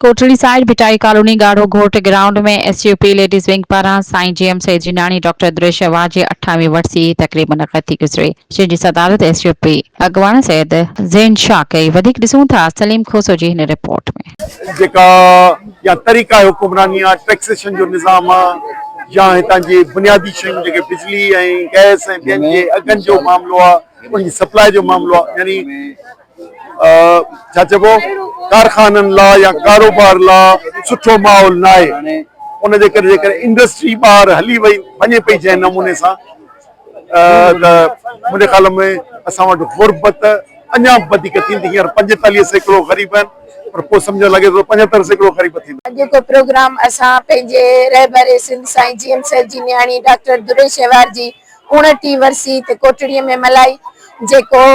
Kotri side Bhittai colony ڳاڙهو گهوٽ ground ۾ S U P ladies wing پاران سائين جي ايم سيد جناڻي ڊاڪٽر دريشه واهه جي اٺائوين ورسي جي تقريب منعقد ٿي گذري جنهن جي صدارت ايس يو پي اڳواڻ سيد زين شاهه ڪئي وڌيڪ ڏسون ٿا سليم کوسو جي هن رپورٽ ۾. جيڪا يا طريقه حڪمراني آ ٽيڪسيشن جو نظام آ يا هتان جي بنيادي شيون جيڪي بجلي ۽ گئس ۽ ٻين جي اگهن جو معاملو آ ان جي سپلاء جو معاملو آ يعني ڇا چئبو ڪارخانن لا يا ڪاروبار لا سٺو ماحول ناهي ان جي ڪري جيڪڏهن انڊسٽري ٻاهر هلي وئي وڃي پئي جنهن نموني سان ته منهنجي خيال ۾ اسان وٽ غربت اڃا به وڌيڪ ٿيندي هينئر پنجيتاليهه سيڪڙو غريب آهن پر پوء سمجهڻ لڳي ٿو پنجهتر سيڪڙو غريب ٿيندا. اڄ جو پروگرام اسان پنهنجي رهبر سنڌ سائين جي ايم سيد جي نياڻي ڊاڪٽر دري شهوار جي اوڻٽيهه ورسي تي ڪوٽڙي ۾ ملهائي جيڪو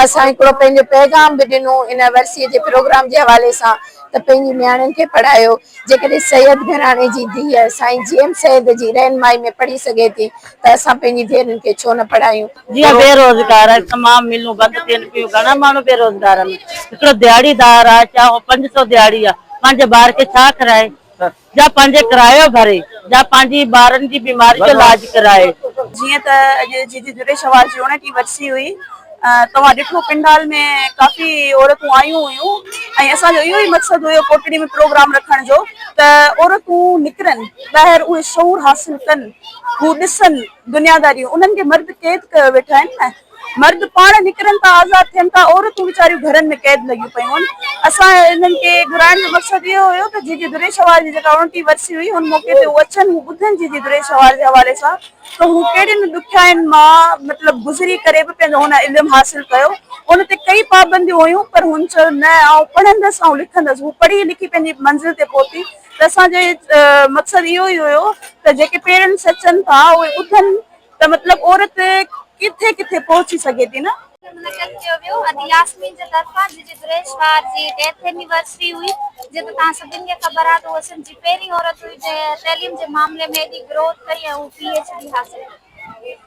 اسان هڪڙو پنهنجو پيغام به ڏنو ان ورسي جي پروگرام جي حوالي سان ته پنهنجي نياڻين کي پڙهايو جيڪڏهن سيد گهراڻي جي ڌيء سائين جي ايم سيد جي رهنمائي ۾ پڙهي سگهي ٿي ته اسان پنهنجي ڌيئرن کي ڇو نه پڙهايون. جيئن بي روزگار آهي تمام ملون بند ٿين پيون گهڻا ماڻهو بي روزگار آهن هڪڙو دهاڙي دار آهي چاهي هو پنج سئو دهاڙي آهي پنهنجي ٻار کي ڇا کارائي جا پنهنجي ڪرايو ڀري. جا پنهنجي ٻارن جي بيماري جو لاج ڪرائي. جيئن ته اڄ جي جي جڏهن شوال جي اڻٽي وٺسي هئي توهان ڏٺو پنڊال ۾ ڪافي عورتون آيون هيون ۽ اسان جو اهو ئي مقصد هيو ڪوٽڙي ۾ پروگرام رکڻ جو ته عورتون نڪرن ٻاهر اهي شعور حاصل ڪن هو ڏسن دنياداريون انهن کي مرد قيد ڪيو ويٺا آهن نه مرد پاڻ نڪرن ٿا آزاد ٿين ٿا عورتون ويچاريون گهرن ۾ قيد لڳيون پيون هن اسان انهن کي گهرائڻ جو مقصد اهو هيو ته جي جي دري شهوار جي جيڪا اڻٽي ورسي هئي هن موقعي تي هو اچن هو ٻڌن جي جي دري شهوار جي حوالي سان ته هو ڪهڙين ڏکيائين مان مطلب گذري ڪري به پنهنجو هن علم حاصل ڪيو ان تي ڪئي پابنديون هيون پر هن چيو نه آئون پڙهندس آئون لکندس هو پڙهي لکي پنهنجي منزل تي پهتي ته اسان جو مقصد اهو ئي هيو ته جيڪي پيرنٽس اچن ٿا اهي ٻڌن ته مطلب عورت ڪٿي ڪٿي پهچي سگهي ٿي نه. منعقد ڪيو ويو ادي ياسمين جي طرفان جي جي گريش وار جي ڊيٿ اينيورسري هئي جي ته توهان سڀن کي خبر آهي ته هوء سنڌ جي پهرين عورت هئي جنهن تعليم جي معاملي ۾ ايڏي گروٿ ڪئي ۽ هوء پي ايڇ ڊي حاصل ڪئي